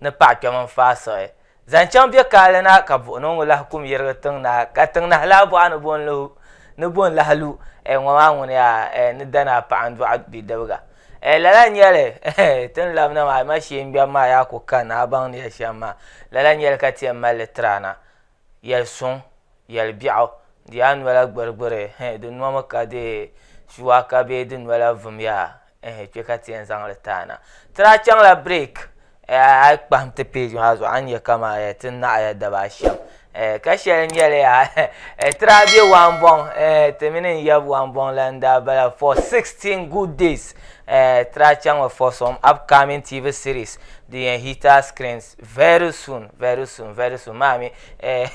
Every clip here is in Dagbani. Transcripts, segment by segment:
ni paɣ kpɛm n-faai siɣi zaŋ chaŋ bɛ kaali na ka buɣinɔŋɔ lahi kum yirigi tiŋ na, ka tiŋ nahi laa bɔɣa ni bɔn lu, ni bɔn lahi lu, ɛɛ ŋɔ maa ŋuni yaa, ɛɛ ni danaa paɣa n-dɔɣi bidibiga, ɛɛ lala n-nyɛ li, ɛhɛ, ti ni labina maa, a ma shee n-ŋmɛbu maa yaa ku ka ni a baŋ ni ya shɛm maa, lala n-nyɛ li ka ti yɛn mali li tiri a na, Yɛli suŋ, yɛli biɛɣu, di yaa nola gbirigbiri, eh, di nomi ka di shuwaaka bee di nola vumya, eh, kpe ka ti yɛn zaŋ li taana. Ti daa chaŋla break, eh, a yi kpahim ti page maa zuɣu a ni nya ka man eh, ti naɣiya daba a shɛm, eh, ka shɛli nyɛli yaa eh, ti daa be Wambɔŋ, eh, ti mini n yab Wambɔŋ la n daa bala for 16 good days, eh, ti daa chaŋmi for some upcoming TV series din yɛn hit our screens. Very soon, very soon, very soon maa mi eh,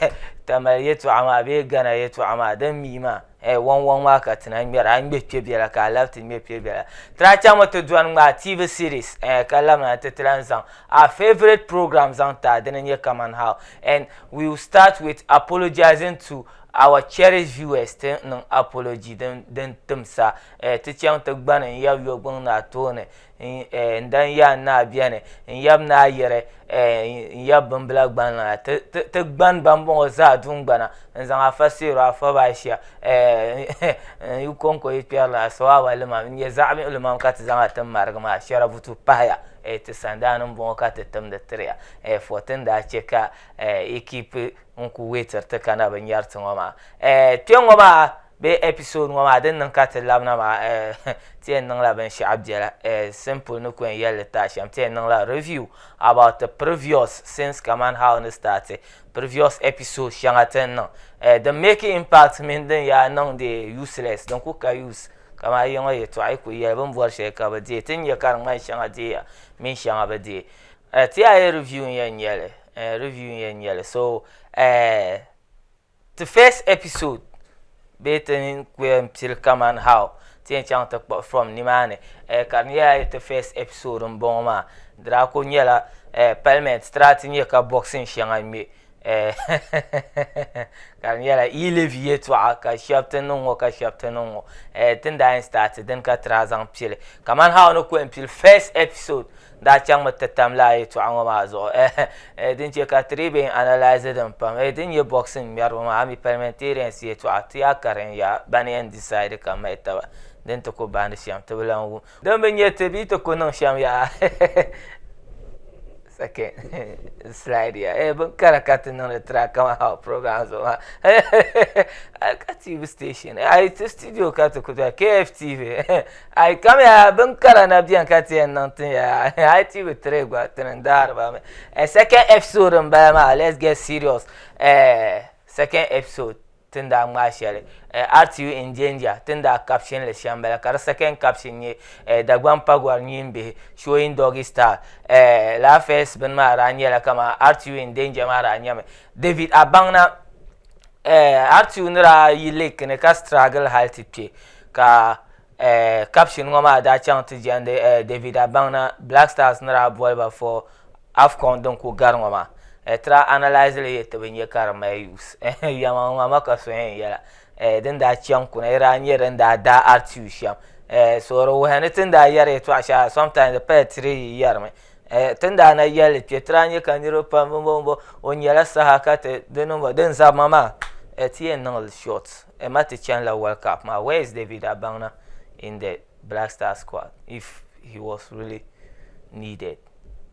Tamale yɛtɔɣa maa bee Ghana yɛtɔɣa maa din mii maa eh, wɔŋ wɔŋ maa ka ti na ŋmɛra a ŋmɛ kpɛ biɛla ka a labi ti ŋmɛ kpɛ biɛla ti lahi chaŋ mi ti dɔni ŋmaa TV series eh, ka labina nti ti lahi zaŋ a favourite program zaŋ ti a dini nyɛ Kaman How and we will start with apologising to our cherished viewers ti niŋ apology din tim sa eh, ti chaŋ ti gbani n-yab yɔgbunni a tooni N dan ya n naa bɛni n yab ni a yiri n yab bimbila gban na ti gban ba n bɔŋɔ zaa dungbana n zaŋ afa seero afa ba ashia n yi kɔŋko yi kpɛri la asawawa limam n nyɛ zaɣ miɣili mam ka ti zaŋ a tin marigi maa shɛrabutu pahaya ti sandaani n bɔŋɔ ka ti timdi tiriya fɔ ti ni daa chɛ ka ikipi n ku weetiri ti ka na bi nyɛri ti ŋɔ maa kpɛŋŋɔ maa Bee episode ŋɔ maa din niŋ ka ti labina maa eh ti yɛn niŋla binshɛɣu biɛla eh simple ni ku yɛn yɛli li tahi shɛm ti yɛn niŋla review about the previous scenes kamani how ni start previous episode shɛŋa ti ni niŋ eh din make impact mini din yaa niŋ di useless din ku ka use kamani a yiŋa yɛltɔɣa yi ku yɛli bini bɔri shɛli ka bi deei ti ni nya ka di ŋmani shɛŋa deeya mini shɛŋa bi deei eh ti yaa yɛli review n-yɛn nyɛli eh review n-yɛn nyɛli so eh Ti first episode bee ti ku yɛn pili kaman how ti yɛn chaŋ ti kpuɣi from nimaani eh, ka di nyɛla ti first episode m-bɔŋɔ maa. Di daa kuli nyɛla eh, parliament ti daa ti nya ka boxing shɛŋa ŋme eh, ka di nyɛla yi levi yɛltɔɣa ka shɛba ti niŋ ŋɔ ka shɛba ti niŋ ŋɔ eh, ti ni daa yɛn start dini ka ti daa zaŋ pili kaman how ni ku yɛn pili first episode daa chaŋmi ti tam lala yɛltɔɣa ŋɔ maa zuɣu eh, din chɛ ka ti dii bɛn analyse din pam eh, din nyɛ boxing ŋmɛriba maa ami parliamentarians yɛltɔɣa ti yaa karin ya ban yɛn decide ka mahi taba din ti ku bahindi shɛm ti bi lan wum din bi nyɛ ti bee ti ku niŋ shɛm yaa second slide ya eh, bin kara ka ti niŋdi tira kama how program zuɣu maa ka tv station ayi ti studio ka ti ku dɔli kftv A yi kam ya bin kara na bɛni ka ti yɛn niŋ tin ya a yi ti bi tiri gba ti ni daari ba mi eh, second episode n bala maa let's get serious eh, second episode tin daa ŋmaa shɛli eh, RTU in danger tin daa caption li shɛm bala ka di second caption nyɛ eh, Dagban Pagwar nyin bihi showing doggy style eh, la first bin maa daa nyɛla kama RTU in danger maa daa nyɛmi David Abanna hali ti yuuni daa yi lake ni ka struggle hali ti kpe ka caption ŋɔ maa daa chaŋ ti jɛndi David Abaŋna Black Stars ni daa boli ba for Afcon din kuli gari ŋɔ maa ti daa analyse li yɛli ti bi nya ka di mali use yɛma ŋɔ ma ka so yɛn yɛla din daa chaŋ kuna di daa nyɛ din daa daai Artiu shɛm so di wuhi ni ti ni daa yɛri yɛtɔɣa shɛli sometimes di pala ti dii yi yɛrimi. Eh, tin daa na yɛli kpɛ ti daa nyɛ ka niriba pam bimbo bimbo o nyɛla saha ka ti di niŋba din zabima maa eh, ti yɛn niŋli short eh, ma ti chani la World Cup maa where is David Abaŋna in the Black Star squad if he was really needed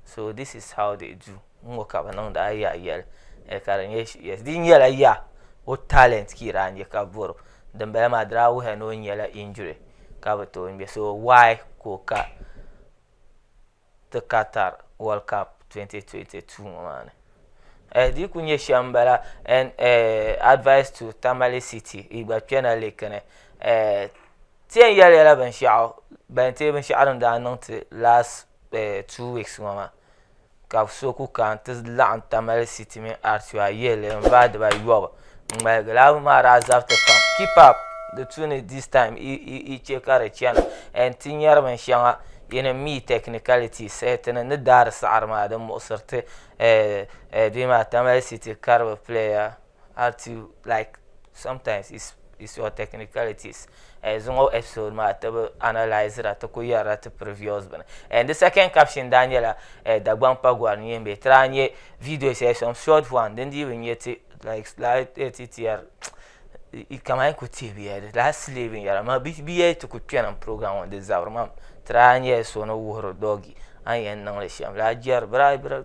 so this is how they do n ŋɔ ka bi niŋda a yaa yɛli eh, ka di nyɛ yes di nyɛla yaa o talent ka yi daa nyɛ ka bɔro dinbala maa di daa wuhiya ni o nyɛla injury ka bi tooi ŋmɛ so why ka o ka ti Qatar World Cup 2022 ŋɔ maa ni eh di ku nyɛ shɛm bala and eh advice to Tamale City yi gba kpɛna liki ni eh ti yɛn yɛli yɛla binshaɣu ban ti binshaɣu din daa niŋ ti last eh two weeks ŋɔ maa ka so ku kana ti laɣim Tamale City mini Artua yihili n vaai diba yɔbu n ŋmaligi lala maa daa zabiti pam keep up di tuuni this time yi che ka di chana and ti nyari bin shɛŋa yin n mi technicalities ti ni ni daari saɣiri maa di muɣisiri ti bee maa Tamale City karibu player. have to like sometimes it's it's your technicalities eh, zuŋɔ episode maa ti bi analysira ti ku yɛrila ti previous bini and the second caption daa nyɛla eh, dagbaŋ pa gɔri ni yɛn bɛ ti daa nyɛ video shɛli some short one din dii bi nyɛ ti like daa eh, ti tiyɛri kamani ku tihi bi yɛli daa sili binyɛra ma bi yɛli ti ku kpɛnim program ŋɔ di zabiri mam ti daa nyɛla so ni wuhiri dɔgi an yɛn niŋli shɛm daa jɛri bira bira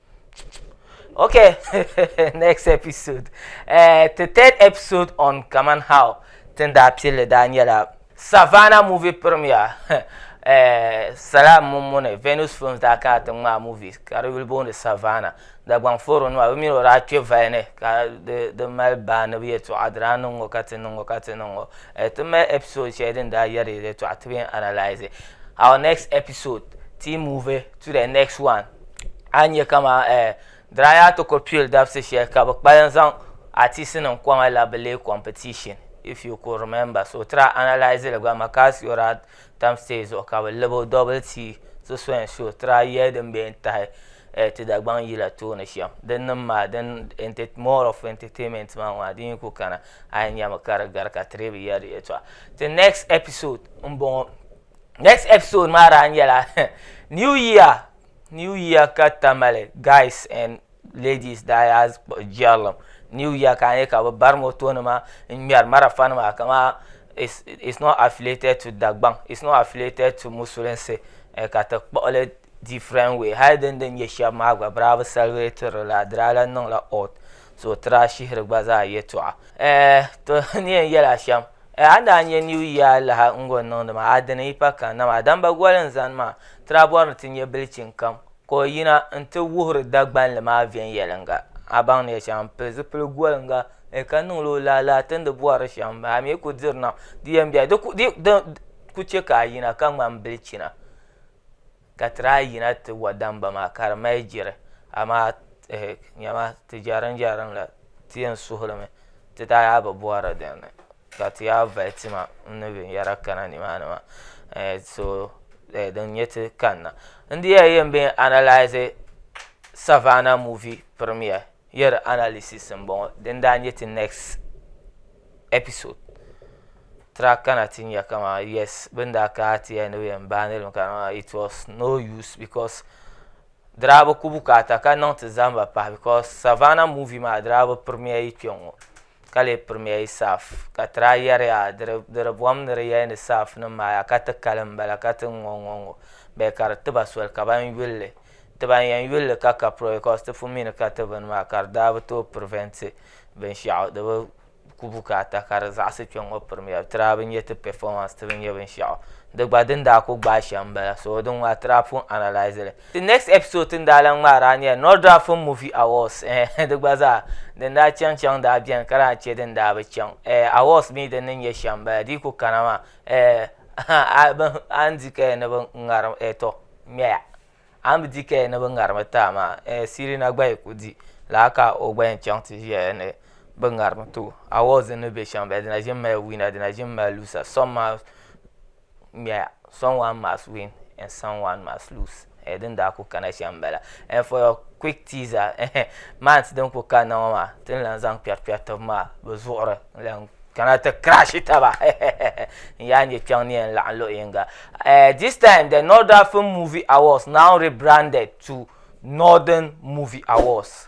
Okay, next episode. Uh, the third episode on Kaman How Tinda Pili Daniela Savannah movie premiere. uh, Salam Mumune, Venus Films da ka ta ma movie. Ka will born the Savannah. Da gwang foro no abi miro ra che vaine ka the the mal ba na bi to adra no ngo ka tin ngo ka tin ngo. Eh, to me episode che din da yari to atbi analyze. Our next episode, team movie to the next one. a nyɛ kama diraya ti ko pil dabisi shɛli ka bi kpalim zaŋ atisi nim kɔŋa la bi lee competition if you could remember so try analyze li gba Makasiora tam stage zuɣu ka bi libo double tii ti so and so try yɛli din bɛ yɛn tahi ti Dagbaŋ yila tooni shɛm din nim maa din more of entertainment maa ŋɔ din yi ku kana a yɛn nyami ka di gari ka ti dii bi yɛri di yɛltɔɣa ti next episode n bɔŋɔ. next episode maa daa nyɛla new year new year ka tamale guys and ladies daa yaa jɛrilim new year ka a nyɛ ka bi bari moto nima n ŋmɛri marafa nima kama it's, it's not affiliated to dagbaŋ it's not affiliated to musulinsi eh, ka ti kpuɣili different way hali din din nyɛ shɛba maa gba bira bi celebrate la dirala niŋla odd so o tiri ashihiri gba zaa yɛtɔɣa to ni yɛn yɛli ashɛm a ni daa nyɛ new year laha n gɔni niŋdi maa a dini yi pa kan dama adamba goli n zani maa ti daa bɔri ni ti nyɛ bilichini kam ka o yina n ti wuhiri dagbanli maa viɛnyɛliŋga a baŋ ni yɛli shɛm n pili zipili goliŋga ka niŋla o laa laa ti ni di bɔri shɛm a mi ku diri nam di yɛn bɛla di ku chɛ ka a yina ka ŋmani bilichina Ka ti daa yina ti wa damba maa ka di mali jiri, amaa ehe, nyama, ti jɛrimjɛrim la ti yɛn suhi li mi, ti daa yaa bi bɔhiri din ni, ka ti yaa vali tima n ni binyɛra kana ni maa ni maa, eh, so eh, din nyɛ ti kanna. N di yɛli yɛn bee n-analyse Savannah movie premiere. Year analysis n bɔŋɔ din daa nyɛ ti next episode tira kana ti nya kama yes bin daa kana ti ya ni bɛ yɛn baai niriba kana maa it was no use because dirabi ku bukaata ka niŋ ti zamba pahi because Savannah movie maa dirabi premiere yi kpɛŋɔ. ka lee pirimiya yi saaf ka ti daa yɛriya di di bom ni di yɛli ni saafnim maa yaa ka ti kali m-bala ka ti ŋ-ŋɔ ŋ-ŋɔ ŋ-ŋɔ bee ka di ti ba soli ka ban yuli li ti ban yɛn yuli li ka ka pirimiya bikos ti pun mi ni ka ti bini maa ka di daa bi tooi pirivɛnti binshɛɣu di bi ku bukaata ka di zaɣisi kpe ŋ-ŋɔ pirimiya ti daa bi nya ti pɛfomans ti bi nya binshɛɣu di gba din daa ku gbaai shɛm m-bala so di ŋ-ŋɔ a ti daa pun analaisi li The next episode ti ni daa lan ŋmaari a nyɛla Nordra Film Movie Awards eh di gba zaa din daa chaŋ chaŋ daa beni ka daa che din daa bi chaŋ eh awards mi din ni nyɛ shɛm bala di yi ku kana maa eh a bi a ni di kaya ni bi ŋarim eh to ŋmɛya a ni bi di kaya ni bi ŋarimi ti a maa eh Sirina gba yi ku di lala ka o gba yɛn chaŋ ti ʒiya ni bi ŋarimi ti o awards din ni be shɛm bala di na ʒimi mali winner di na ʒimi mali loser some maa ŋmɛya some one must win and some one must lose eh, din daa ku kana shɛm bala and eh, for your quick teaser eh, months din ku kanna ŋɔ maa tin lan zaŋ kpɛri kpɛri tibi maa bi zuɣuri lan kana ti crash taba n yaa nyɛ kpɛŋ ni yɛn laɣam luɣi yinga eh, this time the northern film movie awards now rebranded to northern movie awards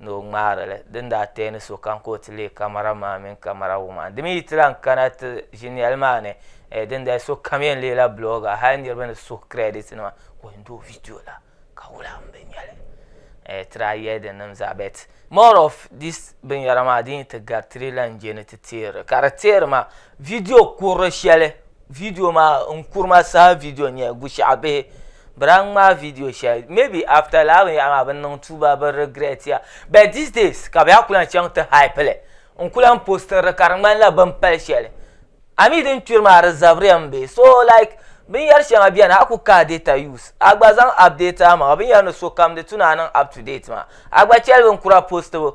ni o ŋmaari li din daa teei ni sokam ka o ti leei kamara maa mini kamara wum a. Di mi yi ti lahi kana ti ʒiniɛl maa ni, eh, dindali sokam yɛn leela blogger, hali niriba ni suhu credit nima ka o yɛn di o video la ka wula m bi nya li. Eh, ti daa yɛli di nim zaa but more of this binyɛra maa din yi ti gari ti di lahi je ni ti teeri li. Ka di teeri maa video kurili shɛli Video maa n kurima saha video n nyɛli bushiɛɣu bihi bɛ daa ŋmaai video shɛli maybe after lala binyɛhiri maa bɛ ni niŋ tuuba bɛ regret ya but these days ka bɛ yaa kuli lan chaŋ ti hype li n kuli lan posting li ka di ŋmanila bɛ ni pali shɛli a mi din kpiri maa di zabiriya m be so like binyɛri shɛŋa beni a ku kahi data use a gba zaŋ update amaŋa binyɛri ni sokam di tu ni a niŋ up to date maa a gba cheli binkura postibu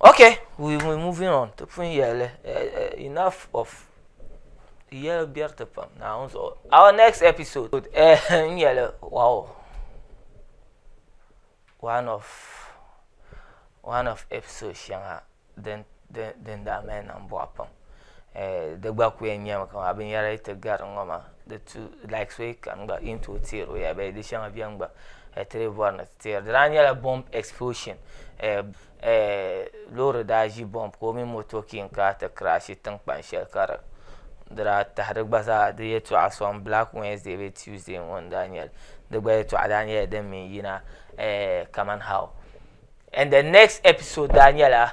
Okay we we moving on ti pun yɛli enough of di yɛli bɛriti pam naawuni zuɣu our next episode n yɛli wow one of one of episode shɛŋa din din daa mali niŋ bɔɣu pam di gba ku yɛn nyɛmi ka binyɛra yi ti gari ŋɔ maa di tu like so yi kani gba yi ni tooi teeri o ya bee di shɛŋa bɛni gba ti lee bɔri ni Teer di daa nyɛla bomb explosion loori daa ʒi bomb ka o mini moto king kaa ti crashi tinkpan shɛli ka di di daa tahi di gba zaa di yɛltɔɣa soŋ black Wednesday bee Tuesday ŋɔ n daa nyɛli di gba yɛltɔɣa daa nyɛla din mi n yina kaman how and the next episode daa nyɛla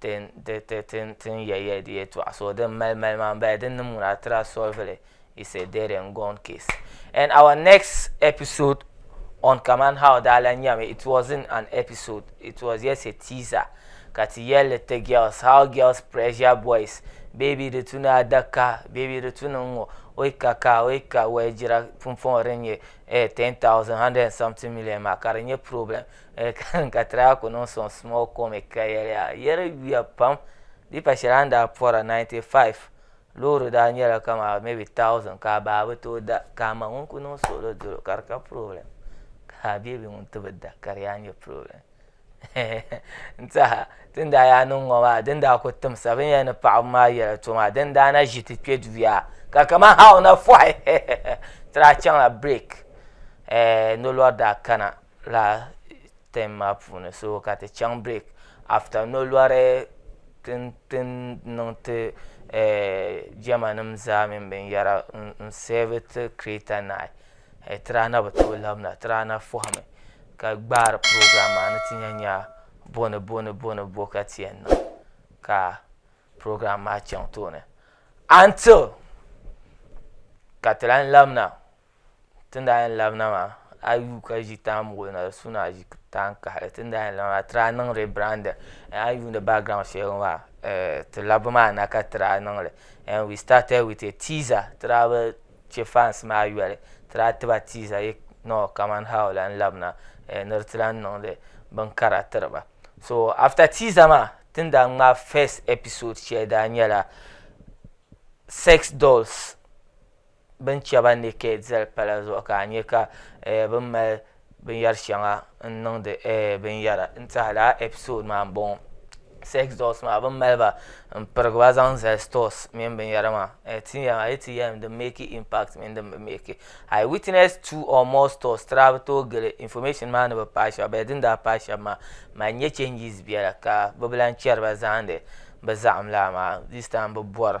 tin ya ya di yɛtɔɣa so din mali mali maa m-bala din ni muna tira solvili is a dead and gone case and our next episode on kaman how daa lan nyami it wasn't an episode it was just a teaser ka ti yɛlli ti girls how girls pressure boys baby di tu ni adaka baby di tu ni ŋ-ŋɔ o yi ka ka o yi ka wɛligira pumpɔŋɔ din nyɛ 10,000 100 and something million maa ka di nyɛ problem ka ti daa ku niŋ sɔŋ small comic ka yɛliya yɛri yuya pam di yi pa shɛli a ni daa pɔra 95 loori daa nyɛla kamani maybe 1000 ka a baa bi tooi da ka a ma ŋun ku niŋ suɣili dolo ka di ka problem ka a beebi ŋun ti bi da ka di yaa nyɛ problem n tiɛha ti ni daa yaa niŋ ŋɔ maa di ni daa ku timsa bini yɛn ni paɣaba maa yɛla to maa di ni daa na ʒi ti kpɛ duya ka kamani ha o na fɔhi ti daa chaŋla break nolɔri daa kana laa ten maa puuni so ka ti chaŋ break after nolɔri tin niŋ ti jema nima zaa mini binyera n save ti kireta nayi tirana bi tooi labina tirana fahimi ka gbaari piroogiraam maa ni ti nya nya boni boni boni bo ka ti yen niŋ ka piroogiraam maa chaŋ tooni until ka ti lahi labina. Tin daa yɛn labina maa a yi yuui ka ʒi taan muɣili na di suhu ni a ʒi taan kahali tin daa yɛn labina maa ti daa niŋ rebranding a yi yuuni background shɛli ŋɔ maa ti labbu maa na ka ti daa niŋli and we started with a teaser ti daa bi chɛ fans maa yoli ti daa ti ba teaser yik nɔɔ kaman how lan labina ni di ti lan niŋdi binkara tiri ba so after teaser maa tin daa ŋmaai first episode shɛli daa nyɛla sex dolls. bin chɛ ba ni kɛ dɛli pala zuɣu ka a nyɛ ka bin mali binyɛri shɛŋa n niŋdi binyɛra n tiɛha laa ɛpisod maa n bɔŋɔ sɛks dɔls maa bin mali ba n pirigi ba zaŋ zali stɔs mini binyɛra maa a yi ti yɛlim din mɛki impakt mini din bi mɛki ai witnɛs tuu ɔɔ mɔɔ stɔs tira bi tooi gili infɔmɛshin maa ni bi paai shɛba bɛri din daa paai shɛba maa mali nyɛ chɛnjis biɛla ka bi bi lan chɛri ba zaani bi zaɣim laa maa dis taim bi bɔri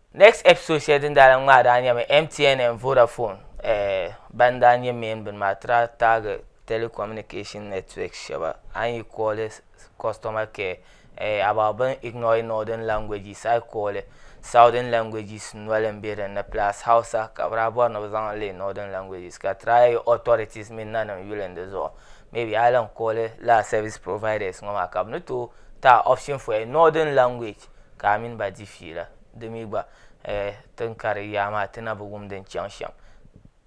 Next episode shɛli din daa lan ŋmaai daa nyɛmi MTN and Vodafone eh, ban daa nyɛ main bini maa ti daa taagi telecommunication networks shɛba a ni yi kooli customer care eh, about bɛ ni ignore northern languages a yi kooli southern languages noli m-be din ni plus Hausa ka bɛ daa bɔri ni bɛ zaŋ leei northern languages ka try yi authorities mini nanim yuli n di zuɣu maybe a yi lan kooli lala service providers ŋɔ maa ka bɛ ni tooi ti a option for a northern language Ka a mini ba di fiila. Di mi gba, eh, ti ni kari yaa maa, ti na bi wum din chaŋ shɛm.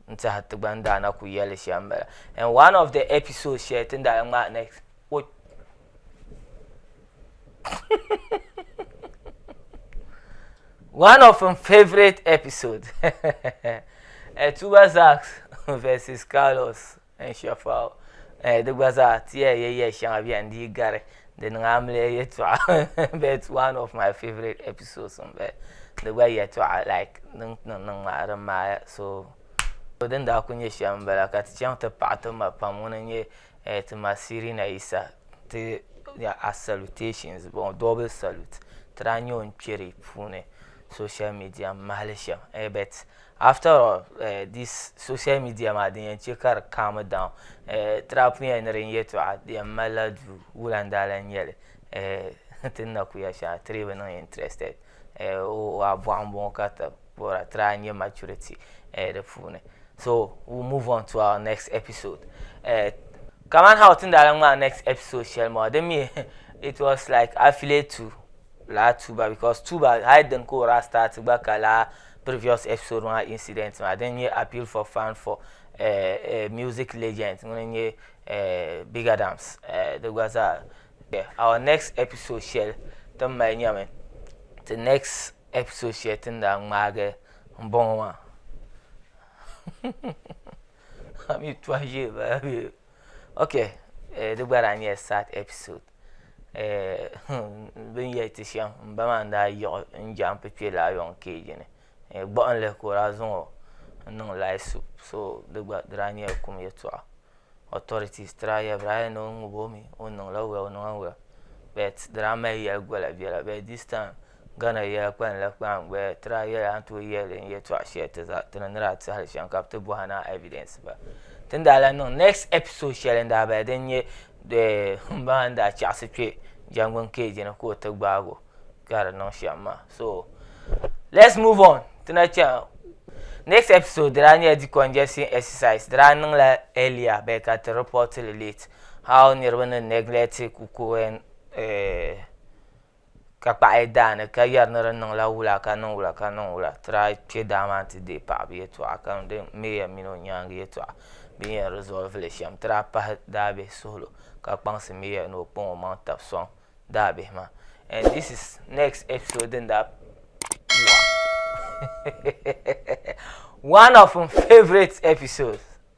N tɛha ti gba ni daa na ku yɛli li shɛm m-bala. In one of the episodes shɛli ti ni daa ŋmaai next, o One of m favourite episodes, eh, Tuba Zax vs Carlos. N shɛfa o. Eh, di gba zaa, ti ya yɛya shɛŋa bɛn dii gari. Di niŋ amiliya yɛtɔɣa but one of my favourite episodes m-bala. Di gba yɛtɔɣa like din niŋ niŋ maa di maaya so din daa kuli nyɛ shɛm m-bala ka ti chaŋ ti paɣi ti ma pam ŋuna n-nyɛ eh ti ma Sirina Yisa nti nya a salutations bɔŋɔ double salute ti daa nya o n-kpɛri puuni social media m-mahili shɛm eh but. After all eh, this social media maa din yɛn chɛ ka di calm down eh, trap yɛn ni din yɛtɔɣa di yɛn malila duu wula n daa lan nyɛli eh, ti ni na ku ya shɛŋa ti dii bi niŋ interested eh, o o a bɔɣu n bɔŋɔ ka ti bɔra try n nyɛ maturity eh, di puuni so we move on to our next episode eh, kaman how ti ni daa lan ŋmaai next episode shɛli maa din mi it was like affiliate to laa tuba because tuba hali din ka o daa start gba ka laa previous episode maa incident maa din nyɛ appeal for fund for uh, uh, music legend ŋuni nyɛ uh, big adams uh, di gba zaa yeah. our next episode shɛli ti mali nyɛmi ti next episode shɛli tin daa ŋmaagi n bɔŋɔ maa ami tɔhi ʒee baa okay uh, di gba daa nyɛla sad episode bi ni yɛli ti shɛm n ba maa n daa yiɣi n jɛmp kpɛ laa yɔn keeji ni gbuɣinli ka o daa zaŋo n niŋ lahi su so di gba di daa nyɛla kum yɛltɔɣa otɔritis ti daa yɛli ba daa yɛli ni o ŋubo mi o ni niŋ la wɛl o niŋ la wɛl bɛt di daa mali yɛli gola biɛla bɛt dis taim Ghana yɛla kpalim la kpaŋ gbaya ti daa yɛli a ni tooi yɛli n yɛtɔɣa shɛli ti za ti ni ni daa ti hali shɛm ka bi ti bɔhi ni a evidence ba ti ni daa lan niŋ next episode shɛli n daa bala din nyɛ n ba maa ni daa chaɣisi kpɛ jɛngbuni cage ni ka o ti gbaagi o ka di niŋ shɛm maa so let's move on ti na chaŋ next episode di daa nyɛla decongestion exercise di daa niŋla earlier bee ka ti report li late how niriba ni neglect kuku and eh, ka kpaɣi daa ni ka yɛri ni di niŋla wula ka niŋ wula ka niŋ wula tira kpɛ daa maa n ti deei paɣaba yɛltɔɣa ka niŋdi meeya mini o nyaangi yɛltɔɣa bi ni yɛn rizɔlivili li shɛm tira pahi daabihi suhulu ka kpaŋsi meeya ni o kpaŋ o maŋa tabi sɔŋ daabihi maa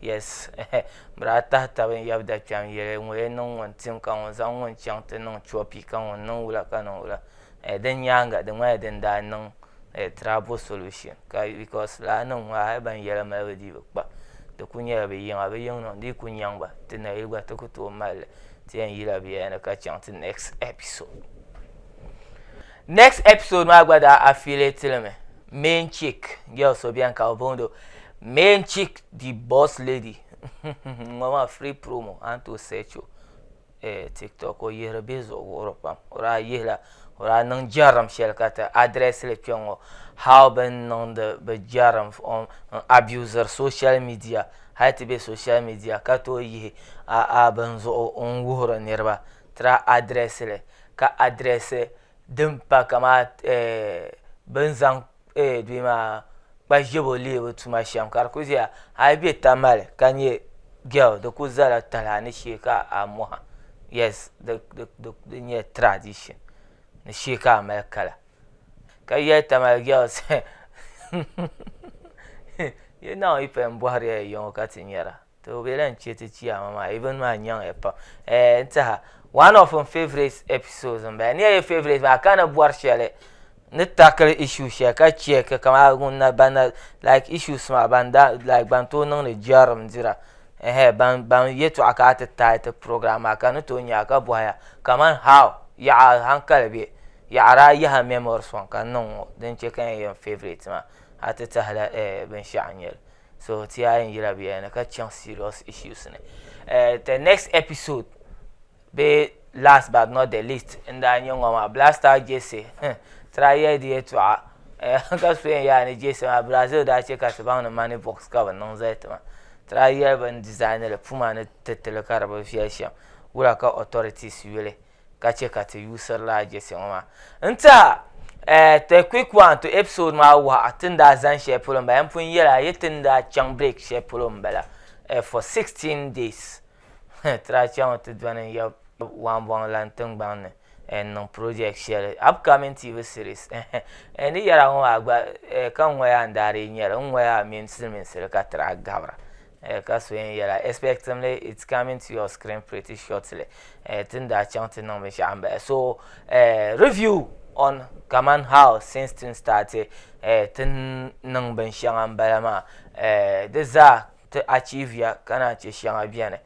Yes bɛ daa tahi taba n yab da kpɛm yɛli ŋɔ yɛn niŋ ŋun tim ka ŋun zaŋ ŋun chaŋ ti niŋ copy ka ŋun niŋ wula ka niŋ wula din nyaaŋa di ŋmanila din daa niŋ trouble solution ka because lala nim ŋɔ hali ban yɛli mali bi dii bi kpa di ku nyɛla bi yiŋa bi yiŋ niŋ di yi ku nyaŋ ba ti nayili gba ti ku tooi mali li ti yɛn yila biɛla ni ka chaŋ ti next episode Next episode maa gba daa affiliate li mi main chick girl so bɛni ka o bondo main chick the boss lady ŋɔ maa free promo an to search o eh, tiktok o yihiri bihi zuɣu wuhiri pam o daa yihila o daa niŋ jɛrim shɛli ka ti address li kpɛ ŋɔ how bin niŋdi bi jɛrim on n abuser social media hali ti bɛ social media ka tooi yihi a a bin zuɣu n wuhiri niriba Tira adirɛsili ka adirɛsi din pa kamani bi ni zaŋ kpa ʒiɛbo leebu tuma shɛm ka di ku ʒiya a yi bɛ Tamale ka nyɛ gɛl di ku ʒɛla talahi ni shee ka a moha yɛs di nyɛla tiradishin ni shee ka a mali kala ka yɛli Tamale gɛls hɛn hɛn hɛn yi naawuni yi paya n bɔhiri ya ya ŋɔ ka ti nyara to o be lahi che ti chiyaama maa even maa nyaŋ ya pam eh n taha one of n favorite episodes n bala ni ya ye favorite maa ka ni bɔri shɛli ni tackle issue shɛli ka check kamani ŋun na ban na like issues maa ban da like ban tooi niŋdi jɛrim dira eh ban ban yɛtɔɣa ka a ti taai ti program maa ka ni tooi nya ka bɔhi ya kamani how yaɣa hankali be yaɣara a yaha memories ŋɔ ka n niŋ ŋɔ din che ka n ye n favorite maa a ti tahila eh binshɛɣu n nyɛli. so ti a yi yira bɛ ni ka chaŋ serious issues ni eh, the next episode be last but not the least n daa nyɛ ŋɔ maa blaster jesse hmm, tira yɛli di yɛtɔɣa eh, ka so yɛn yaa ni jesse maa brazil daa chɛ ka ti baŋ ni money box ka bi niŋ zali ti ma tira yɛli bin design li puma ni titili ka di bi viɛli shɛm wura ka authorities yuli ka chɛ ka ti yuusirila a jɛsi ŋɔ maa. N tiɛha, eh, the quick one to episode maa wuhi a ti ni daa zani shɛli polo m-bala. N pun yɛli a yi ti ni daa chaŋ break shɛli polo m-bala, eh, for sixteen days. Huh, ti daa chaŋ mi ti dɔni n-yab Wambɔŋ lan tiŋgbɔŋ ni, eh, n-niŋ project shɛli, upcoming TV series, eh-heh. Eh, ni yɛri a ŋɔ maa gba, eh, ka n ŋɔya n daa dii nyɛ li. N ŋɔya mini siliminsili ka ti daa gabira. Eh, ka so yɛn yɛla expectingly it's coming to your screen pretty shortly eh, tin daa chaŋ ti niŋ binshaɣu n bahi so eh, review on kaman how since tin started eh, tin niŋ binshɛŋa n bala maa eh, di zaa ti achieve ya ka naan chɛ shɛŋa bɛni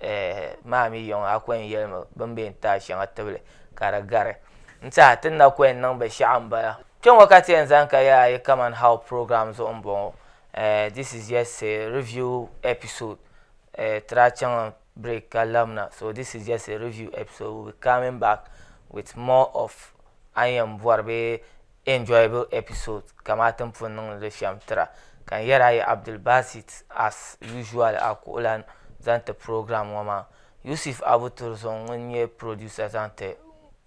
eh, maa mi yɔŋ a kɔyɛn yɛlimi bin bɛ n taai shɛŋa tibili ka di gari n tiɛha tin na kɔyɛn niŋ binshaɣu n bala kpɛŋɔ ka ti yɛn zani ka yɛla yi kaman how program zuɣu n bɔŋɔ Eh, this is just a review episode. Eh, tira chaŋ break ka lamna. So this is just a review episode. We'll be coming back with more of an yɛn bɔri bee enjoyable episode kamaa tin pun niŋdi li shɛm tira. Ka n yɛri a yi Abdul Basit as usual a kuɣulan zaŋ ti program ŋɔ maa. Yusuf Abu Turzɔŋ ŋun nyɛ producer zaŋ ti